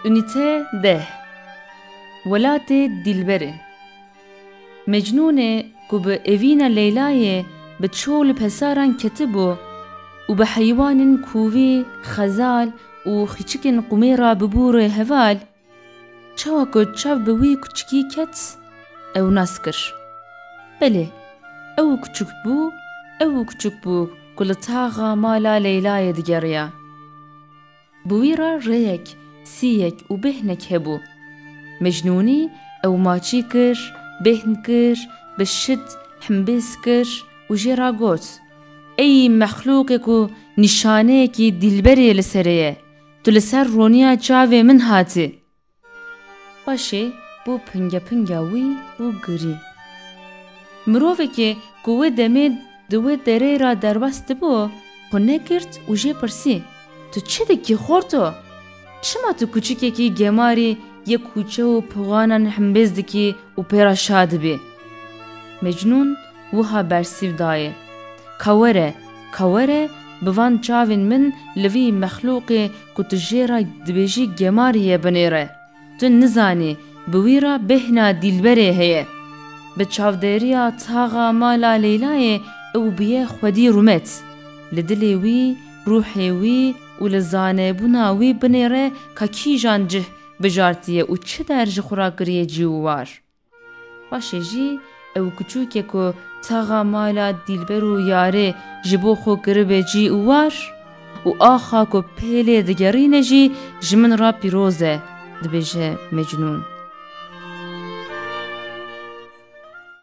Unîte deh Welatê Dîlberê Mecnûnê ku bi evîna Leylayê bi çol û pesaran ketibû û bi heywanên kûvî, xezal û xîçikên qûmê re bûbû rê heval, Çawa ku çav bi wî kuçikî ket, ew nas kir. Belê, ew û kuçik bû, ew û kuçik bû ku li taxa mala Leylayê digeriya. Bi wî re rêyek, sîyek û bêhnek hebû. Mecnûnî ew maçî kir, bêhn kir, bi şid himbêz kir û jê re got, Ey mexlûqê ku nîşaneyekî dîlberê li serê ye, Tu li ser roniya çavê min hatî. Paşê bû pingepinga wî û girî. Mirovekî ku wê demê di wê dereyê re derbas dibû, xwe negirt û jê pirsî, Tu çi dikî xorto? Çima tu kûçikekî gemarî yê kûçe û pixanan himbêz dikî û pê re şa dibî? Mecnûn wiha bersîv dayê, Ka were, ka were bi van çavên min li vî mexlûqê ku tu jê re dibêjî gemarî ye binêre. Tu nizanî bi wî re bêhna dîlberê heye. Bi çavdêriya taxa mala Leylayê ew bûye xwedî rûmet. Li dilê wî, rûhê wî û li zanebûna wî binêre ka kîjan cih bijartiye û çi der ji xwe re kiriye cî û war. Paşê jî ew kuçûkê ku taxa mala dîlber û yarê ji bo xwe kiribê cî û war û axa ku pêlê digerîne jî ji min re pîroz e, dibêje Mecnûn.